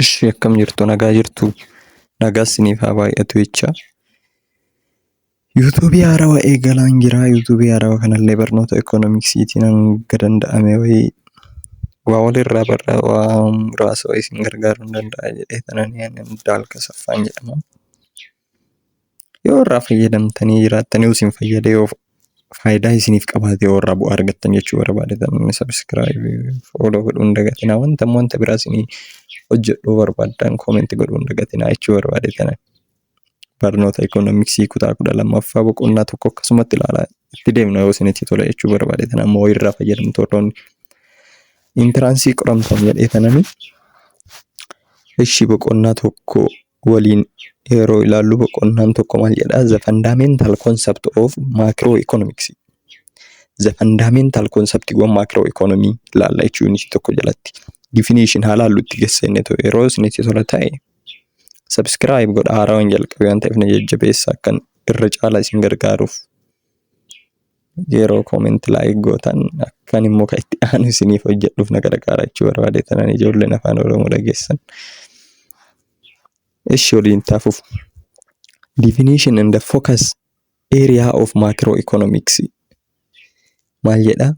Ishii akkam jirtu nagaa jirtu nagaa siniif haa baay'atu jecha. Yuutuubii haarawa eegalaan jira. Yuutuubii haarawa kanallee barnoota ekoonoomiksiitiin hanga danda'ame wayii waa walirraa barraa waa muraasa wayii isin gargaaruu hin danda'a jedhee tananii ani Abdaal Kasaffaan jedhama. Yoo irraa fayyadamtanii jiraattanii isin fayyadee yoo faayidaa isiniif qabaate yoo irraa bu'aa argattan jechuu barbaade namni sabiskiraayibii fooloo godhuu hin dagatinaa wanta immoo wanta biraa isinii hojjedhuu barbaaddan koomenti godhuu hin dagatinaa jechuu barbaade tana barnoota ikoonomiksii kutaa kudha lammaffaa boqonnaa tokko akkasumatti ilaalaa itti deemna yoo isinitti tola jechuu barbaade tana ammoo irraa fayyadamtoonni intiraansii qoramtan jedhee tananii Ishi boqonnaa tokko waliin yeroo ilaallu boqonnaan tokko maal jedhaa? The fundamental concept of macroeconomics. The fundamental concept of macroeconomy ilaalla jechuun unit tokko jalatti. Definition haa ilaallu itti gesseennetu yeroo isinitti tola ta'e subscribe godha haarawaan jalqabe waan ta'eef na jajjabeessa akkan irra caala isin gargaaruuf. Yeroo comment like gootan akkan immoo kan itti aanu isiniif hojjedhuuf na gargaara jechuu barbaade tanan ijoolleen afaan oromoo dhageessan. Ishi waliin taafuuf. Definition and the focus area of macroeconomics maal jedha?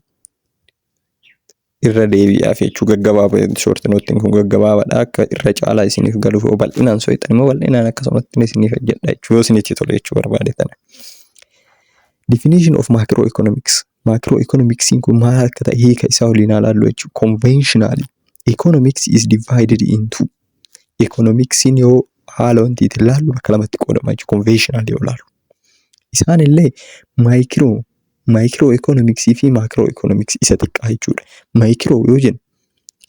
irra deebi'aaf jechuu gaggabaaba short note kun gaggabaabaadha akka irra caalaa isiniif galuuf yoo bal'inaan soixan immoo bal'inaan akkasumatti isiniif hojjedha jechuu yoo isinitti tole jechuu barbaade tana. Definition of macroeconomics macroeconomics kun maal akka ta'e hiika isaa waliin haa laallu jechuu conventionally economics is divided into economics yoo haala wantiitiin laallu bakka lamatti qoodama jechuu conventionally yoo laallu. Isaan illee maayikiroo, maayikiroo ikoonomiksii fi maakiroo ikoonomiksii isa xiqqaa jechuudha. Maayikiroo yoo jennu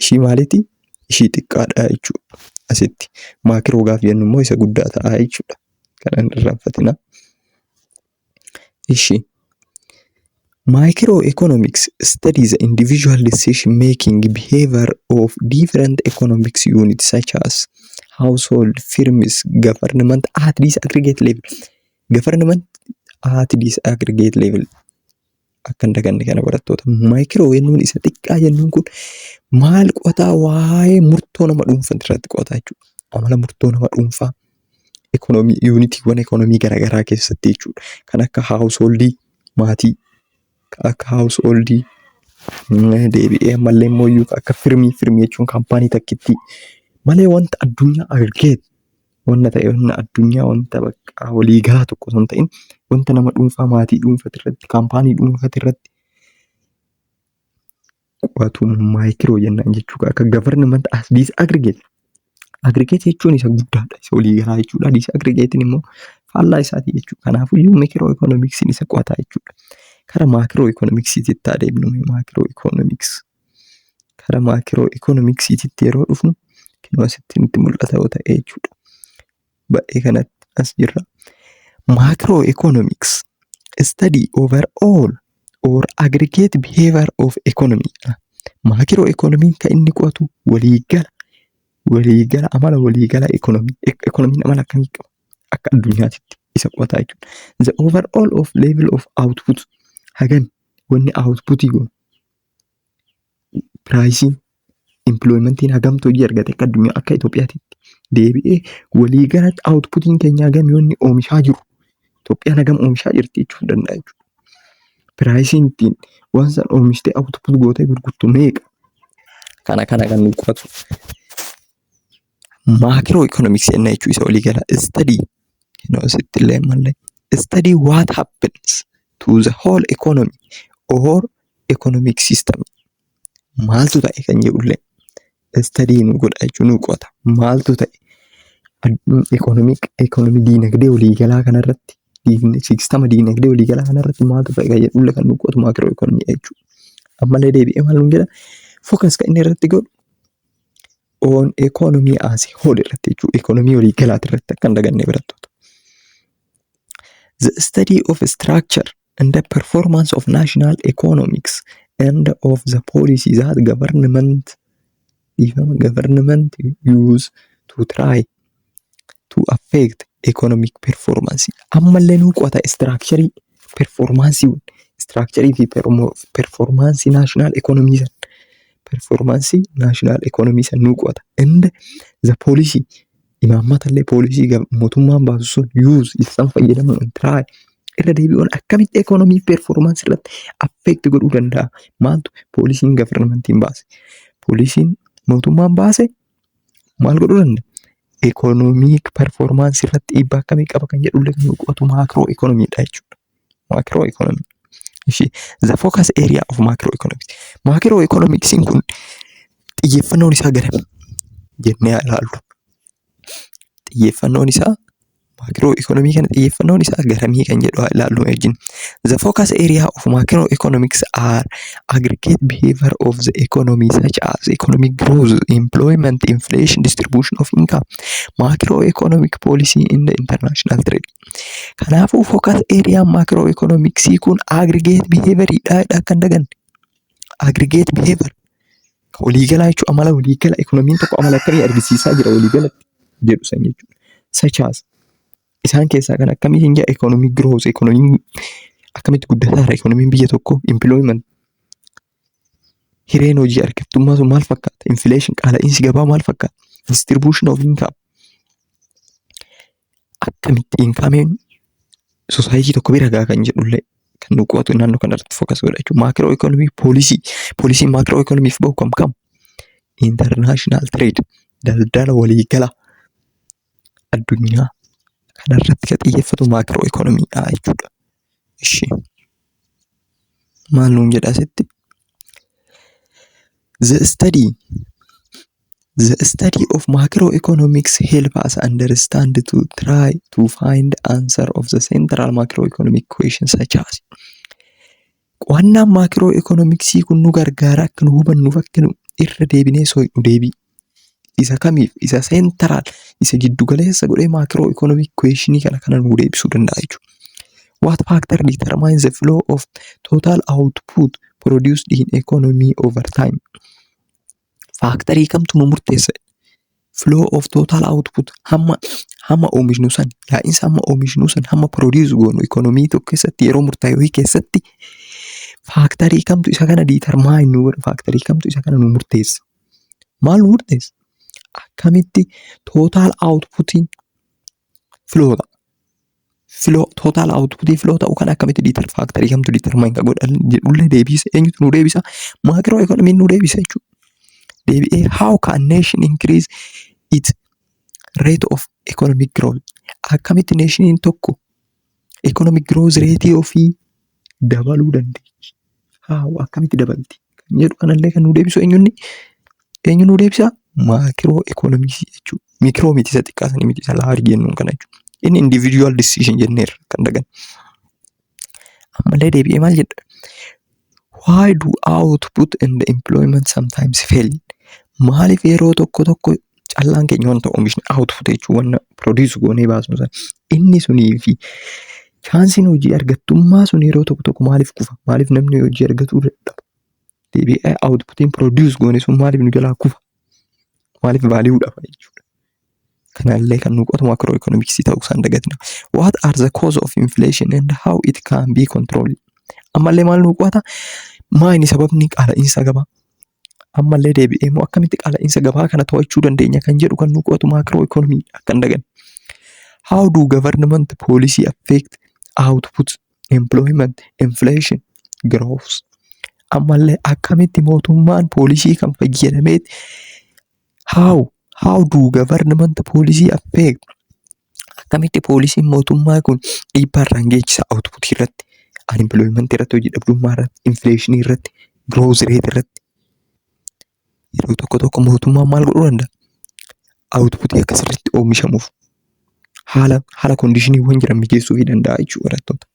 ishii maaliiti? Ishii xiqqaadha jechuudha asitti. Maakiroo gaafa jennu immoo isa guddaa ta'a jechuudha. Kana hin irraanfatinaa. Ishii Micro economics study the individual decision making behavior of different economic units such as household, firms, government at this aggregate level. Government at this aggregate level. Akka hin daganne kana barattoota. Maayikiroo jennuun isa xiqqaa jennuun kun maal qo'ataa waa'ee murtoo nama dhuunfaa irratti qo'ataa jechuudha. Amala murtoo nama dhuunfaa yuunitiiwwan ekonomii garaagaraa keessatti jechuudha. Kan akka haawusooldii maatii, kan akka haawusooldii deebi'ee ammallee immoo kan akka firmii, firmii jechuun kaampaanii takkittii malee wanta addunyaa argee wanna ta'e wanna addunyaa wanta bakka walii galaa tokko osoo hin ta'in wanta nama dhuunfaa maatii dhuunfaa irratti kaampaanii dhuunfaa irratti qo'atu maayikiroo jennaan jechuudha. Akka government as disaggregate. Aggregate jechuun isa guddaadha. Isa olii galaa jechuudha. Disaggregate'n immoo faallaa isaati jechuudha. Kanaafuu iyyuu mikiroo ikoonomiksiin isa qo'ataa jechuudha. Kara maakiroo ikoonomiksiititti adeemnu maakiroo ikoonomiks. Kara maakiroo ikoonomiksiititti yeroo dhufnu kinoo asitti nutti mul'ata yoo ta'e jechuudha. baay'ee kanatti as jirra. Macro economics study over all or aggregate behavior of economy. Macro economy kan inni qo'atu waliigala waliigala amala waliigala economy economiin amala akkamii qaba akka addunyaatitti isa qo'ataa jechuudha. The overall of level of output hagan wanni output goon piraayisiin impiloyimentiin hagamtu hojii argate akka addunyaa akka Itoophiyaatti deebi'ee walii galatti awutputiin keenya hagam yoo inni oomishaa jiru Itoophiyaan hagam oomishaa jirti jechuun danda'a jechuudha. Piraayisiin ittiin waan san oomishtee awutput gootee gurgurtu meeqa? Kana kana kan nu qo'atu. Maakiroo ikoonomiksii ennaa jechuu isa olii galaa istadii noo sitti illee mallee istadii waat happens to the whole economy or economic system maaltu ta'e kan jedhu illee istadii nu godha jechuu nu qo'ata maaltu ta'e ikoonomik ikoonomii diinagdee olii galaa kanarratti siistama diinagdee olii galaa kanarratti maaltu ta'e kan jedhu illee kan nu qo'atu maakiroo ikoonomii jechuudha. Ammallee deebi'ee maal nuun jedha fookas kan inni irratti godhu on economy as a whole irratti jechuudha. Economy walii galaati irratti akka hin daganne barattoota. The study of structure and the performance of national economics and of the policies that government even government use to try to affect economic performance ammallee nuu qo'ata istiraakcharii performaansii istiraakcharii fi performaansii naashinaal ekonomii san performaansii naashinaal ekonomii san nuu qo'ata inda za poolisii imaammatallee poolisii gam- mootummaan baasu sun yuuz isaan fayyadamuun intiraay irra deebi'uun akkamitti ekonomii performaansii irratti affect godhuu danda'a maaltu poolisiin gavarnamantiin baase poolisiin mootummaan baase maal godhuu danda'a? Ikoonoomii parfoormaansii irratti dhiibbaa akkamii qaba kan jedhu illee kan qo'atu maakroo ikoonomiidha jechuudha. Maakroo ikoonomii. Ishee the focus area of macro economics. Maakroo ikoonomiksiin kun xiyyeeffannoon isaa garami? Jennee haa ilaallu. Xiyyeeffannoon isaa Maakiroo ikoonomii kana xiyyeeffannoon isaa garamii kan jedhu haa ilaallu wajjin. The focus area of macro economics are aggregate behavior of the economy such as economic growth, employment, inflation, distribution of income, macro economic policy in the international trade. Kanaafuu focus area macro economics kun aggregate behavior dha kan daganne. Aggregate behavior. Ka waliigalaa jechuun amala waliigala ekonomiin tokko amala akkamii argisiisaa jira waliigalatti jedhu san jechuudha. Sachaas isaan keessaa kan akkamii hin jedha ekonomii growth ekonomiin akkamitti guddataa jira ekonomiin biyya tokko employment hireen hojii argattummaa sun maal fakkaata inflation qaala'iinsi gabaa maal fakkaata distribution of income akkamittiin kaameen sosaayitii tokko bira gahaa kan jedhullee kan nu qo'atu naannoo kanarratti fookas godha jechuudha. Maakiroo ikoonomii poolisii poolisiin maakiroo ikoonomiif bahu kam kam? Intarnaashinaal tireed daldala waliigala addunyaa kanarratti kan xiyyeeffatu maakiroo ikoonomiidha jechuudha. Ishi maal nuun jedha asitti? The study The study of macroeconomics help us understand to try to find answer of the central macroeconomic question such as Qo'annaan macroeconomics kun nu gargaara akka nu hubannuuf akka nu irra deebinee so'inu deebii isa kamiif isa seentaraal isa giddu galeessa godhee maakiroo ikoonomii kuweeshinii kana kana nuu deebisuu danda'a jechuudha. What factor determines the flow of total output produced in economy over time? Faaktarii kamtu nu murteessa? Flow of total output hamma hamma oomishnu san yaa'insa hamma oomishnu san hamma produce goonu ikoonomii tokko keessatti yeroo murtaa'e wayii keessatti faaktarii kamtu isa kana determine nu godha faaktarii kamtu isa kana nu murteessa? maal nu murteessa? Akkamitti total outputiin flow ta'a? Flow, total outputiin flow ta'u kan akkamitti deter factor kamtu determine kan godhan jedhullee deebise eenyutu nu deebisa? Macro economy nu deebisa jechuudha. Deebi'ee how can nation increase its rate of economic growth? Akkamitti nationiin tokko Economic growth rate ofii dabaluu dandeechi. Haa akkamitti dabalti? Kan jedhu kanallee kan nu deebisu eenyunni? Eenyu nu deebisa? Maakiroo ekonomiksii jechuudha. Mikiroo miti isa xiqqaa sanii miti isa laarji jennuun kana jechuudha. Inni individual decision jenneerra kan dagan. Ammallee deebi'ee maal jedha? Why do output and employment sometimes fail? Maaliif yeroo tokko tokko callaan keenya wanta oomishni output jechuun wanta produce goonee baasnu sana inni sunii fi chaansiin hojii argattummaa sun yeroo tokko tokko maaliif kufa? Maaliif namni hojii argatuu dadhaba? Deebi'ee outputiin produce goone sun maaliif nu jalaa kufa? Maaliif value dhaba jechuudha? Kanallee kan nu qotu macro economics ta'uu isaan dagatina. What are the cause of inflation and how it can be controlled? Ammallee maal nu qo'ata? Maayini sababni qaala'iinsa gabaa? Ammallee deebi'ee immoo akkamitti qaala'iinsa gabaa kana to'achuu dandeenya kan jedhu kan nu qo'atu macro economy akka hin daganne. How do government policy affect output, employment, inflation, growth? Ammallee akkamitti mootummaan poolisii kan fayyadameet How? How do government policy affect? Akkamitti poolisiin mootummaa kun dhiibbaa irraan geessisa output irratti, unemployment irratti, hojii dhabdummaa irratti, inflation irratti, growth rate irratti. Yeroo tokko tokko mootummaan maal godhuu danda'a? Output akka sirriitti oomishamuuf haala haala kondiishiniiwwan jiran mijeessuu fi danda'a jechuudha barattoota.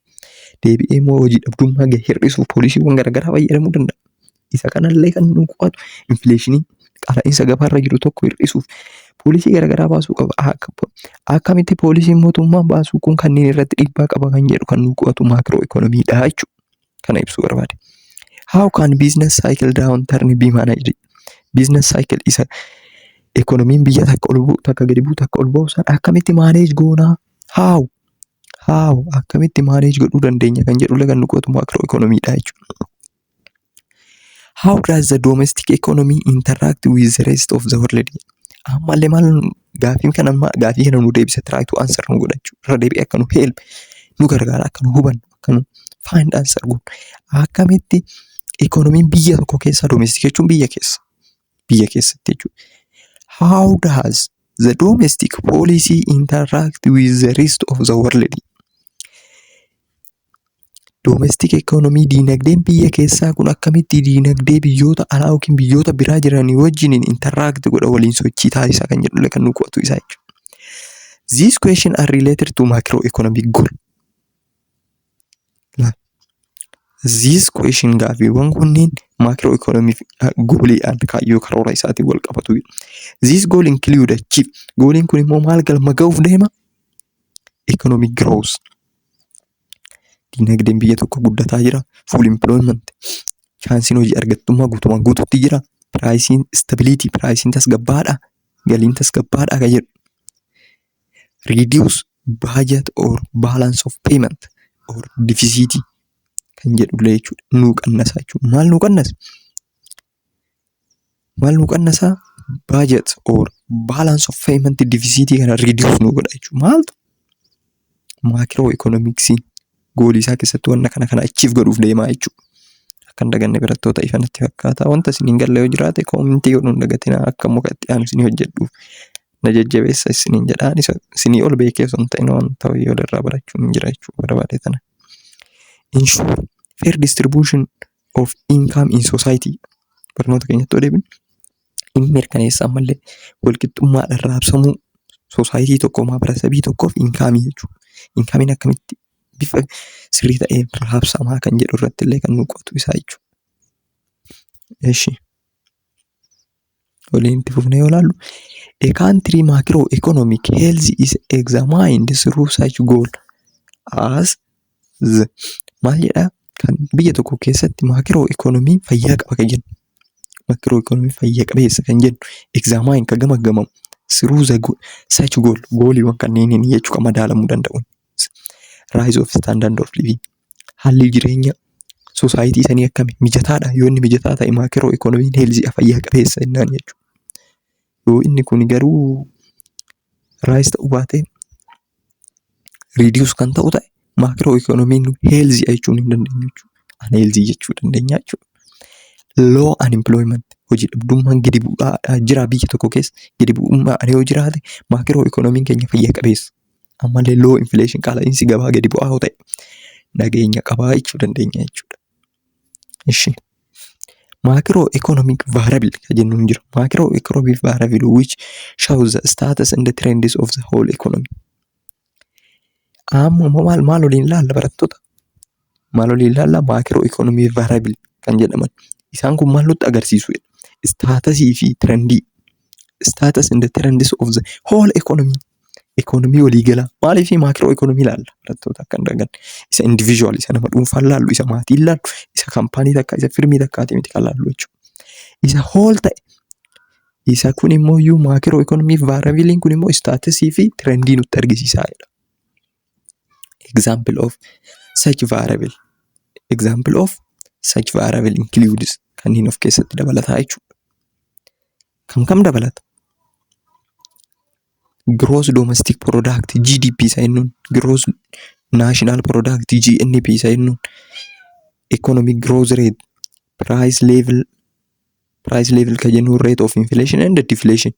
Deebi'ee immoo hojii dhabdummaa gahee hir'isuuf poolisiiwwan garaagaraa fayyadamuu danda'a. Isa kanallee kan nu qo'atu infileeshinii qaala'insa gabaarra jiru tokko hir'isuuf poolisii garaagaraa baasuu qaba. Akka- Akkamitti poolisiin mootummaan baasuu kun kanneen irratti dhiibbaa qaba kan jedhu kan nu qo'atu maakiroo ikoonomiidha jechuudha. kana ibsuu barbaade. How can business cycle down turn be managed? Business cycle isa ekonomiin biyya takka ol bu'u takka gadi bu'u takka ol bu'u san akkamitti manage goonaa? How? How? Akkamitti manage godhuu dandeenya kan jedhu lagan nuqootu macro economy dha jechuudha. How does the domestic economy interact with the rest of the world? Ammallee maal gaaffiin kana gaafii kana nu deebisa try to answer nu godhachu irra deebi'ee akka nu help nu gargaara akka nu hubannu Akkamitti ikoonomiin biyya tokkoo keessaa domestic jechuun biyya keessa biyya keessatti jechuudha. How does the domestic policy interact with the rest of the world? Domestic economy diinagdeen biyya keessaa kun akkamitti diinagdee biyyoota alaa yookiin biyyoota biraa jiran wajjin interact godha waliin sochii taasisa kan jedhullee kan nu qo'atu isaa jechuudha. These questions are related to macroeconomic goal. These question gaaffiiwwan kunniin maakiroo ikoonoomii fi gooliidhaan kaayyoo karoora isaatiin wal qabatu. These goal include achieve. Gooliin kun immoo maal galma ga'uuf deema? Economic growth. Dinagdeen biyya tokko guddataa jira. Full employment. Chaansiin hojii argattummaa guutumaan guututti jira. Piraayisiin stability. Piraayisiin tasgabbaadha. Galiin tasgabbaadha kan jedhu. Reduce budget or balance of payment or deficit kan jedhullee jechuudha. Nuu qannasaa jechuudha. Maal nuu qannasa? Maal nuu qannasaa? Budget or balance of payment deficit kana reduce nuu godha jechuudha. Maaltu? Maakiroo ikoonomiksii. goolii isaa keessatti wanna kana kana achiif godhuuf deemaa jechuudha. Akka hin daganne barattoota ifa natti fakkaata. Wanta isin hin galle yoo jiraate koomintii godhuu hin dagatina akka muka itti aanu isinii hojjedhuuf na jajjabeessa isiniin jedha. Ani isa- isinii ol beekee osoo hin ta'in wanta wayii ol irraa barachuun hin jira jechuu barbaade tana. In short, fair distribution of income in society barnoota keenyatti yoo deebinu in mirkaneessa ammallee walqixxummaadhaan raabsamuu soosaayitii tokko maabarasabii tokkoof inkaamii jechuudha. Inkaamiin akkamitti bifa sirrii ta'een raabsamaa kan jedhu irratti illee kan nu qo'atu isaa jechuudha. Eshi waliin itti fufnee yoo ilaallu a country macroeconomic health is examined through such goal as Z. Maal jedhaa kan biyya tokko keessatti maakiroo ikoonomiin fayyaa qaba kan jennu. Maakiroo ikoonomiin fayyaa qabeessa kan jennu egzaamaayin kan gamaggamamu siruu za sachi gool gooliiwwan kanneeniin jechuu kan madaalamuu danda'u. Raayis of istaandard of liviing haalli jireenya soosaayitii sanii akkami mijataadha yoo inni mijataa ta'e maakiroo ikoonomiin heelziidha fayyaa qabeessa jennaan jechuudha. Yoo inni kun garuu raayis ta'uu baatee riidiyuus kan ta'u ta'e maakiroo ikoonomiin heelzii jechuun hin dandeenyu jechuudha. Anheelzii jechuu dandeenya jechuudha. Loo anempilooyimant hojii dhabdummaan gadi bu'aa jira biyya tokko keessa gadi bu'ummaan yoo jiraate maakiroo ikoonomiin keenya fayyaa qabeessa. Ammallee loo infileeshin qaala'iinsi gabaa gadi bu'aa yoo ta'e nageenya qabaa jechuu dandeenya jechuudha. Ishi. Macro economic variable ka jennu hin jiru. Macro economic variable which shows the status and the trends of the whole economy. Amma immoo maal maal waliin ilaalla barattoota? Maal waliin ilaalla? Macro economic variable kan jedhaman. Isaan kun maal nutti agarsiisu? Staatasii fi trendii. Status and the trends of the whole economy. Ikoonomii waliigalaa maalii fi maakiroo ikoonomii ilaalla barattoota akka hin daganne. Isa individual isa nama dhuunfaa ilaallu isa maatii ilaallu isa kaampaanii takka isa firmii takkaati miti kan ilaallu jechuudha. Isa hool ta'e isa kun immoo iyyuu maakiroo ikoonomii vaarabiliin kun immoo istaatisii fi tirendii nutti argisiisaa jedha. Example of such variable. Example of such variable includes kanneen of keessatti dabalataa jechuudha. Kam kam dabalata? Gross Domestic Product GDP isa jennuun Gross National Product GNP isa jennuun Economic Growth Rate Price Level Price Level kan jennuun Rate of Inflation and Deflation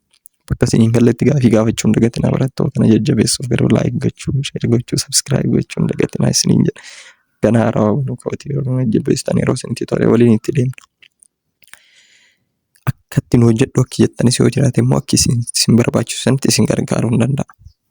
Bakka isin hin galletti gaafii gaafachuu hin dagatinaa barattoota na jajjabeessuuf garuu like gochuu, share gochuu, subscribe gochuu hin dagatinaa isiniin jedha. Kan haarawaa banuu kooti yeroo na jajjabeessitan yeroo isin tutorial waliin itti deemnu. Akka ittiin hojjedhu akki jettanis yoo jiraate immoo akki isin isin barbaachisu sanitti isin gargaaruu hin danda'a.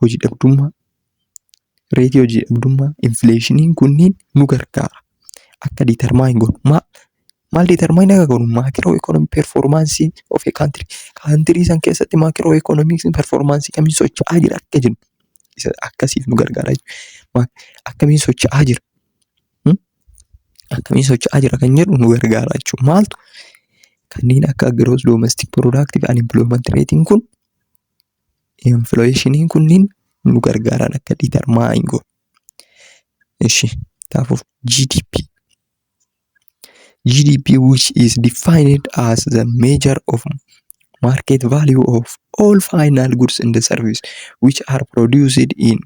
hojii dhabdummaa, reetii hojii dhabdummaa, infleeshiniin kunniin nu gargaara. Akka determine godhu. Maal, maal determine akka godhu? Maakiroo ikoonomi performaansii of a country. Kaantirii san keessatti maakiroo ikoonomiksiin performaansii kamiin socho'aa jira akka jennu. Isa akkasiif nu gargaara jechuudha. Akkamiin socho'aa jira? Hmm? Akkamiin socho'aa jira kan jedhu nu gargaara jechuudha. Maaltu? Kanneen akka gross domestic product fi unemployment rating kun Inflation kunniin nu gargaaran akka determine goonu. Ishi kanaafuu GDP. GDP which is defined as the measure of market value of all final goods and services which are produced in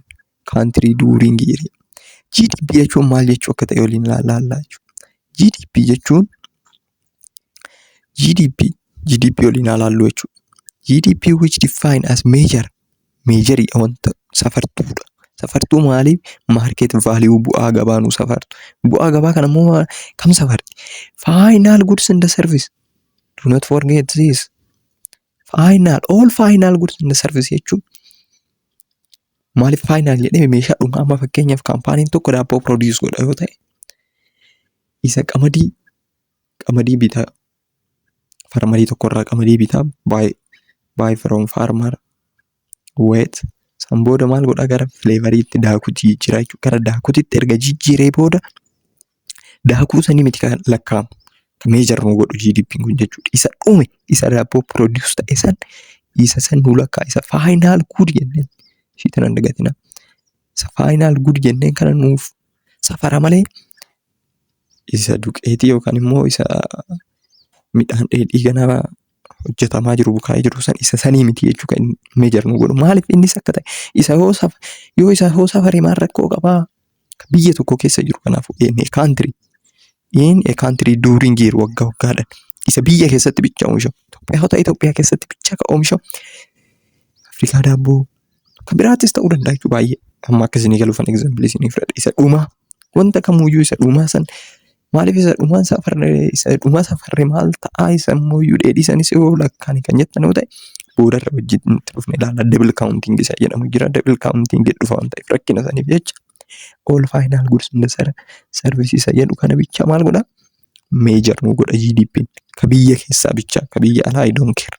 country during year. GDP jechuun maal jechuu akka ta'e waliin ilaallaa jechuudha. GDP jechuun GDP GDP waliin haa ilaallu jechuudha. GDP which define as measure measure wanta safartuudha. Safartuu maalii market value bu'aa gabaa nu safartu. Bu'aa gabaa kana immoo maal kam safarti? Final goods and service do not forget this. Final all final goods and service jechuun maaliif final jedhee meeshaa dhumaa amma fakkeenyaaf kaampaaniin tokko daabboo produce godha yoo ta'e Isa qamadii qamadii bitaa farmarii tokkorraa qamadii bitaa baay baay from farmer wet san booda maal godhaa gara fileevariitti daakuu jijjiiraa jechuudha gara daakuutitti erga jijjiiree booda daakuu sanii miti kan lakkaa'amu kan meejar nu godhu GDP'n kun jechuudha isa dhume isa daabboo produce ta'e san isa san nu lakkaa isa faayinaal guud jenneen ishiitan hin dagatina isa faayinaal guud jenneen kana nuuf safara malee isa duqeetii yookaan immoo isa midhaan dheedhii ganaa hojjetamaa jiru bukaa'ee jiru san isa sanii miti jechuu kan meejar nu godhu maaliif innis akka ta'e isa yoo saf yoo isa yoo safare maal rakkoo qabaa biyya tokko keessa jiru kanaaf in a country in a country during year wagga waggaadhan isa biyya keessatti bicha oomishamu Itoophiyaa yoo ta'e Itoophiyaa keessatti bicha ka oomishamu Afrikaa daabboo Kan biraattis ta'uu danda'a jechuudha baay'ee. Amma akka isinii galuuf an egzaampilii isinii fudhadha. Isa dhumaa wanta kamuyyuu isa dhumaa san maaliif isa dhumaa isaa farre isa dhumaa isaa farre maal ta'a isa immoo iyyuu dheedhii isanis yoo lakkaa'an kan jettan yoo ta'e boodarra wajjin itti dhufne ilaalla. Double counting isa jedhamu jira. Double counting dhufa waan ta'eef rakkina isaaniif jecha all final goods in the ser- service isa jedhu kana bicha maal godha? Meejar nu godha GDP'n. Ka biyya keessaa bicha ka biyya alaa I don't care.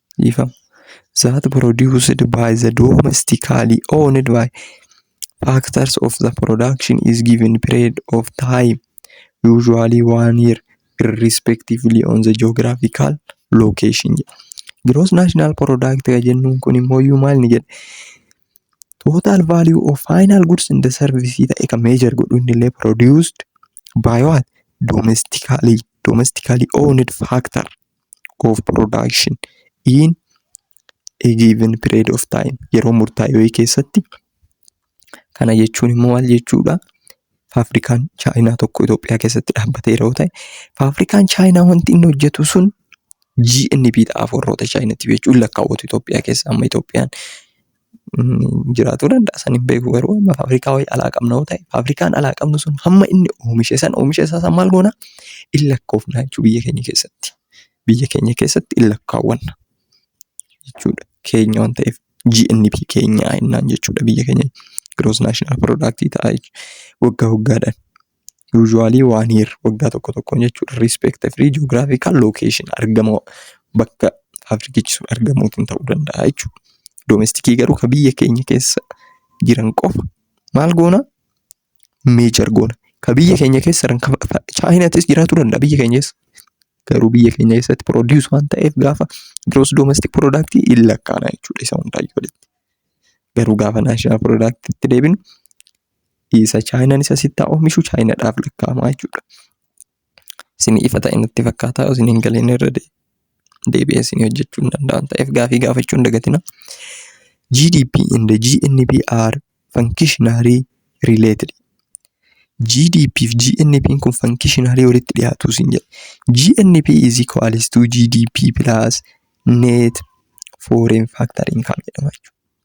dhiifama. That produced by the domestically owned by factors of the production is given period of time usually one year irrespectively on the geographical location jedha. Gross national product kan jennuun kun immoo iyyuu maal ni jedha? Total value of final goods and the service ta'e kan measure godhu inni illee produced by what? Domestically, domestically owned factor of production in a given period of time yeroo murtaa'e wayii keessatti kana jechuun immoo maal jechuudha faafrikaan chaayinaa tokko Itoophiyaa keessatti dhaabbatee yeroo ta'e faafrikaan chaayinaa wanti inni hojjetu sun GNB dhaaf warroota chaayinatti jechuun lakkaawwatu Itoophiyaa keessa amma Itoophiyaan Jiraatuu danda'a san hin beeku garuu amma faabirikaa wayii alaa qabna yoo ta'e faabirikaan alaa qabnu sun hamma inni oomishe san oomisha isaa san maal goona in lakkoofna jechuu biyya keenya keessatti. Biyya keenya keessatti in lakkaawwanna jechuudha keenya waan ta'eef GNP keenya jennaan jechuudha biyya keenya gross national product ta'a jechuudha waggaa waggaadhaan. Usually one year waggaa tokko tokkoon jechuudha. Respect free geographical location argama bakka faabirikichi sun argamuutiin ta'uu danda'a jechuudha. Domestikii garuu kan biyya keenya keessa jiran qofa maal goona meejar goona. Kan biyya keenya keessa jiran kan fa- chaayinaatis jiraachuu danda'a biyya keenya keessa. Garuu biyya keenya keessatti produce waan ta'eef gaafa gross domestic product hin lakkaana jechuudha isa hundaayyuu walitti. Garuu gaafa national product itti deebinu Isa chaayinaan isa sitti haa oomishu chaayinaadhaaf lakkaa'amaa jechuudha. Isin ifa ta'e natti fakkaata yoo isin hin galeen irra deebi'ee isin hojjechuu hin danda'an ta'eef gaafii gaafachuu hin dagatina. GDP and GNP are functionally related. GDP fi GNP kun functionally walitti dhiyaatu isin jedha. GNP is equals to GDP plus net foreign factor income jedhama jechuudha.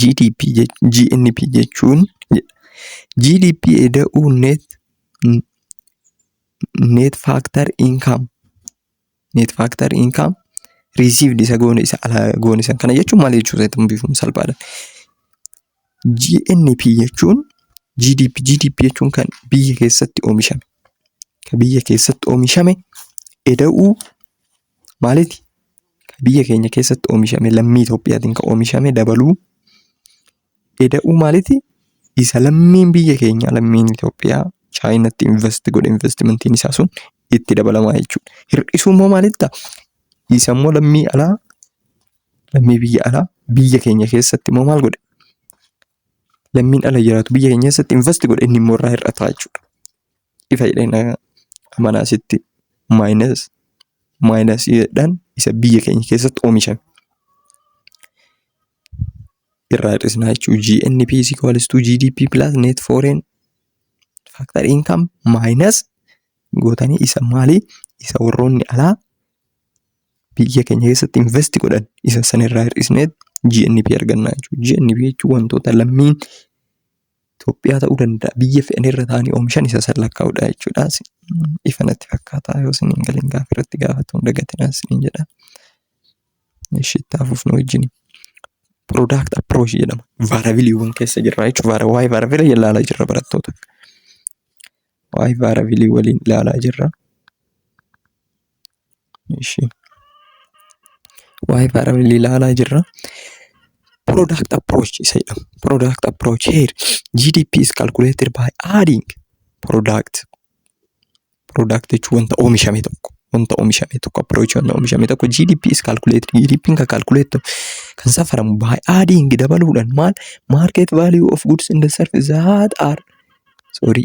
GDP GNP jechuun GDP eda'uu net net factor income net factor income received isa goone isa alaa goone san kana jechuun maal jechuu isaa bifuun salphaadha. GNP jechuun GDP GDP jechuun kan biyya keessatti oomishame kan biyya keessatti oomishame eda'uu maaliti biyya keenya keessatti oomishame lammii Itoophiyaatiin kan oomishame dabaluu eda'uu maaliti isa lammiin biyya keenya lammiin Itoophiyaa chaayinatti invest godhe investimentiin isaa sun itti dabalamaa jechuudha. Hir'isuu immoo maalitta isa immoo lammii alaa lammii biyya alaa biyya keenya keessatti immoo maal godhe lammiin ala jiraatu biyya keenya keessatti invest godhe inni immoo irraa hir'ataa jechuudha. Ifa jedhee amanaa sitti maayinas maayinasiidhaan isa biyya keenya keessatti oomishame. Irraa hir'isnaa jechuudha. GNP is equals to GDP plus net foreign factor income maayinas gootanii isa maalii isa warroonni alaa biyya keenya keessatti invest godhan isa sanirraa hir'isneet GNP argannaa jechuudha. GNP jechuun wantoota lammiin Itoophiyaa ta'uu danda'a biyya fedhanirra taa'anii oomishan isa san lakkaa'udha jechuudha. Ifa natti fakkaata yoo isin hin galin gaafa irratti gaafatu hin dagatinaa isin jedha. Ishi itti hafuuf nu wajjin. Product approach jedhama. Vaarabiliiwwan keessa jirra jechuudha. Waa'ee vaarabilii ilaalaa jirra barattoota. Waa'ee vaarabilii waliin ilaalaa jirra. Ishi. Waa'ee parallel ilaalaa jirra. Product approach isa jedhamu. Product approach here. GDP is calculated by adding product. Product jechuun wanta oomishame tokko. Wanta oomishame tokko approach wanta oomishame tokko GDP is calculated. GDP kan calculate kan safaramu by adding dabaluudhaan maal market value of goods in the service that are sorry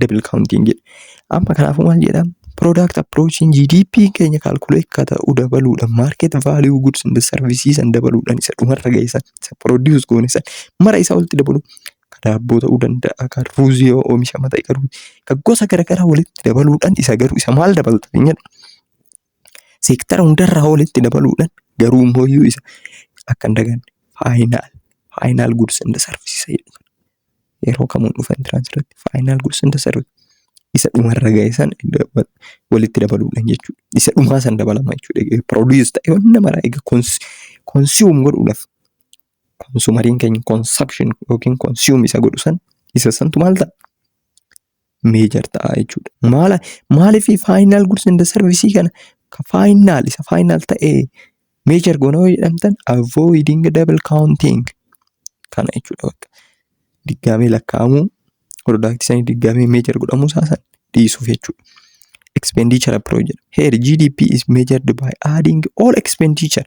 double counting jedhe. Amma kanaafuu maal jedha? Product approaching GDP keenya calculate akka ta'u dabaluudhaan market value goods and services san dabaluudhaan isa dhumarra geessan isa produce goone san mara isaa walitti dabalu ka daabboo ta'uu danda'a ka ruuzii yoo oomishama ta'e garuu ka gosa garaagaraa walitti dabaluudhaan isa garuu isa maal dabalta jedha. seektara hundarraa walitti dabaluudhaan garuu immoo iyyuu isa akka hin daganne faayinaal faayinaal guds and sarviisisa jedhu kana yeroo kamuun dhufa intiraansi irratti faayinaal guds and sarviisisa isa dhumarra ga'e san walitti dabaluudhaan jechuudha. Isa dhumaa san dabalama jechuudha. Egaa produce ta'e wanna mara egaa consume godhuudhaaf konsumariin keenya consumption yookiin consume isa godhu san isa santu maal ta'a? meejar ta'a jechuudha. Maala maaliif faayinaal guds inda sarvisii kana ka faayinaal isa faayinaal ta'e meejar goona yoo jedhamtan avoiding double counting kana jechuudha bakka diggaamee lakkaa'amuu piroodaaktisanii diggaamee meejar godhamuu isaa san dhiisuuf jechuudha. Expenditure approach jedha. Here GDP is measured by adding all expenditure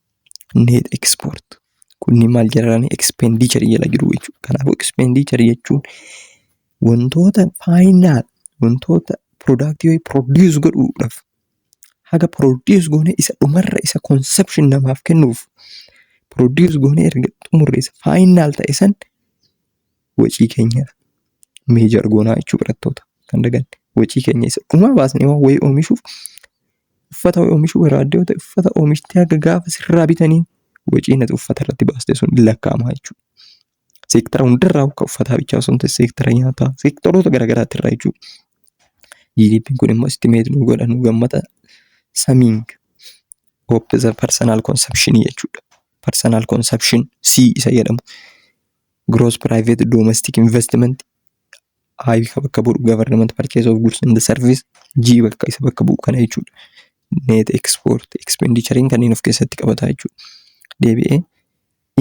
Net export. Kunni maal jedhani expenditure jala jiru jechuudha. Kanaafuu expenditure jechuun wantoota faayinaal wantoota product yoo produce godhuudhaaf haga produce goone isa dhumarra isa consumption namaaf kennuuf produce goone erga xumurre isa faayinaal ta'e san wacii keenya meejar goonaa jechuu barattoota kan daganne wacii keenya isa dhumaa baasnee waan wayii oomishuuf uffata oomishuu barbaadde yoo ta'e uffata oomishtee haga gaafa sirraa bitanii waciin ati uffata irratti baaste sun hin lakkaa'ama jechuudha. Seektara hundarraa akka uffataa bichaa osoo hin ta'in seektara nyaataa seektaroota garaagaraatti irraa jechuudha. GDPn kun immoo istimeet nu godha nu gammada samiing hooppiza parsanal konsepshinii jechuudha. Parsanal konsepshin C isa jedhamu. Gross private domestic investment I ka bakka bu'u government purchase of goods and service G bakka isa bakka bu'u kana jechuudha. Net export expenditure'n kanneen of keessatti qabata jechuudha. Deebi'ee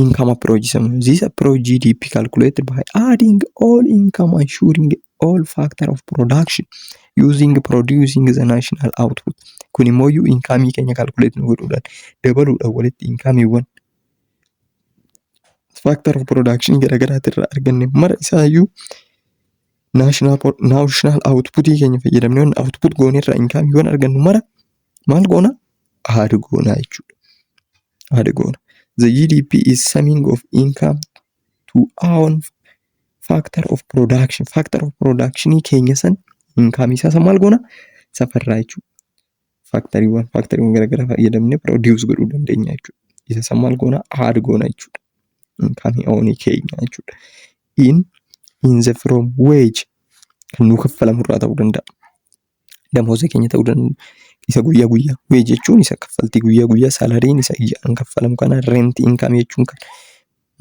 income approach jedhamu. This approach GDP calculated by adding all income ensuring all factor of production using producing the national output. Kun immoo iyyuu inkaamii keenya calculate nu godhuudhaan dabaluudhaan walitti inkaamiiwwan faaktar of piroodakshinii garaagaraati irraa arganne mara isaayyuu naashinaal awutputii keenya fayyadamne yoon awutput goone irraa inkaamii yoon argannu mara maal goona aada goona jechuudha. Aada goona. The GDP is summing of income to own factor of production. Factor of production keenya san inkaamii isaa san maal goona safarraa jechuudha. faaktariiwwan faaktariiwwan garaagaraa fayyadamnee produce godhuu dandeenya jechuudha. Isa san maal goona add goona jechuudha. Inkamii oonii keenya jechuudha. In in the from wage kan nuu kaffalamu irraa ta'uu danda'a. Damooza keenya ta'uu danda'a. Isa guyyaa guyyaa wage jechuun isa kaffaltii guyyaa guyyaa salariin isa ijaan kaffalamu kana rent income jechuun kan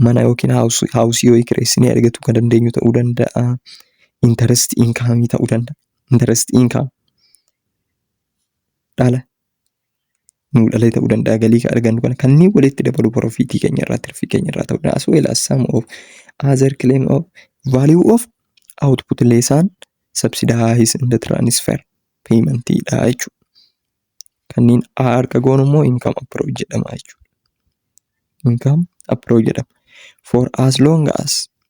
mana yookiin haawusii yoo kireessinee argatu kan dandeenyu ta'uu danda'a. Interest income ta'uu danda'a. Interest income dhala nuu dhalee ta'uu danda'a galii kan argannu kana kanneen walitti dabalu profiitii keenya irraa tirfii keenya irraa ta'uu danda'a as well as sum of other claim of value of output lesson subsidize and transfer payment dha jechuudha. Kanneen A harka goonu immoo income approach jedhama jechuudha. Income approach jedhama. For as long as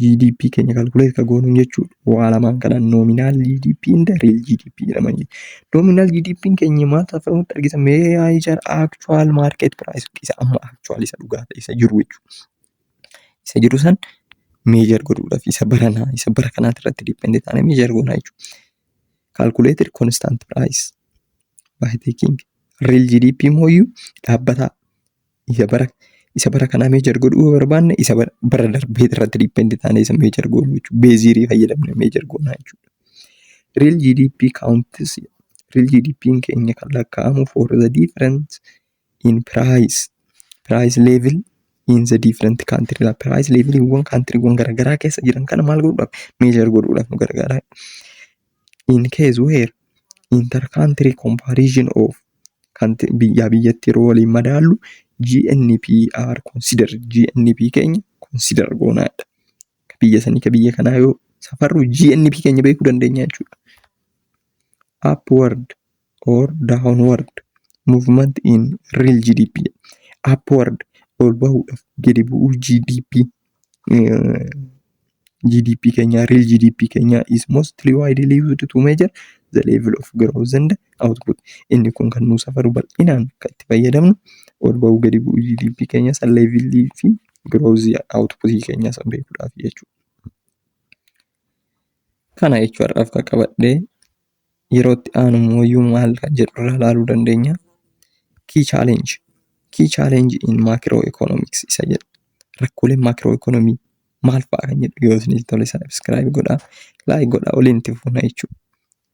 GDP keenya kalkuleet ka goonuun jechuudha. Waa lamaan kana nominaal GDP inda riil GDP jedhama. Nominaal GDP keenya maal ta'a ta'uu argisa mee yaa ijaar actual market price isa amma actual isa dhugaa ta'e isa jiru jechuudha. Isa jiru san meejar godhuudhaaf isa baranaa isa bara kanaati irratti dippendi taanee meejar goonaa jechuudha. Calculated constant price by taking real GDP mooyyuu dhaabbataa isa bara isa bara kanaa meejar godhuu yoo barbaanne isa bara- bara darbee irratti diipendi taanee isa meejar goonu jechuudha. Beeziirii fayyadamne meejar goonaa jechuudha. Real GDP counts real GDP keenya kan lakkaa'amu for the difference in price price level in the different country la price leveliiwwan kaantiriiwwan garaagaraa keessa jiran kana maal godhuudhaaf meejar godhuudhaaf nu gargaara. in case where inter country comparison of kan biyyaa biyyatti yeroo waliin madaallu GNP are consider GNP keenya consider goonaadha. Ka biyya sanii ka biyya kanaa yoo safarru GNP keenya beekuu dandeenya jechuudha. Upward or downward movement in real GDP upward ol bahuudhaaf gadi bu'uu GDP eh, GDP keenyaa real GDP keenyaa is mostly widely used to measure the level of growth and output inni kun kan nuu safaru bal'inaan kan itti fayyadamnu ol bahuu gadi bu'uu GDP keenya san level fi growth output keenya san beekuudhaaf jechuudha. Kana jechuudhaaf kan qabadhee yeroo itti aanu immoo iyyuu maal kan jedhu irraa ilaaluu dandeenya. Key challenge. Key challenge in macro economics isa jedhu. Rakkooleen macro economy maal fa'a kan jedhu yoo isinii tole subscribe godhaa. Like godhaa waliin itti fuuna jechuudha.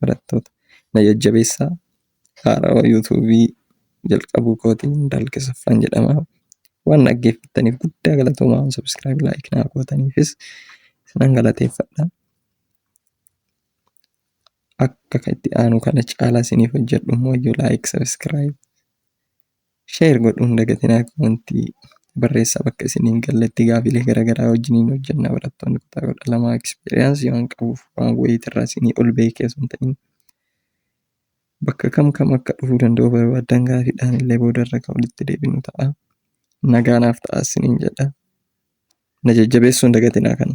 Barattoota na jajjabeessaa. Haarawa YouTube jalqabuu kootiin dalqisuffan jedhama. Waan dhaggeeffattaniif guddaa galatoomaa subscribe like naa gootaniifis isinan galateeffadha. akka kan itti aanu kana caalaa isiniif hojjedhu immoo iyyuu like subscribe share godhuu hin dagatinaa komentii barreessaa bakka isiniin galletti gaafiilee garaagaraa wajjiniin hojjenna barattoonni kutaa kudha lamaa experience waan qabuuf waan wayiit irraa isinii ol beekee sun ta'in bakka kam kam akka dhufuu danda'u barbaaddan gaafiidhaan illee booda irra kan walitti deebinu ta'a nagaanaaf ta'a isiniin jedha na jajjabeessuu hin dagatinaa kana.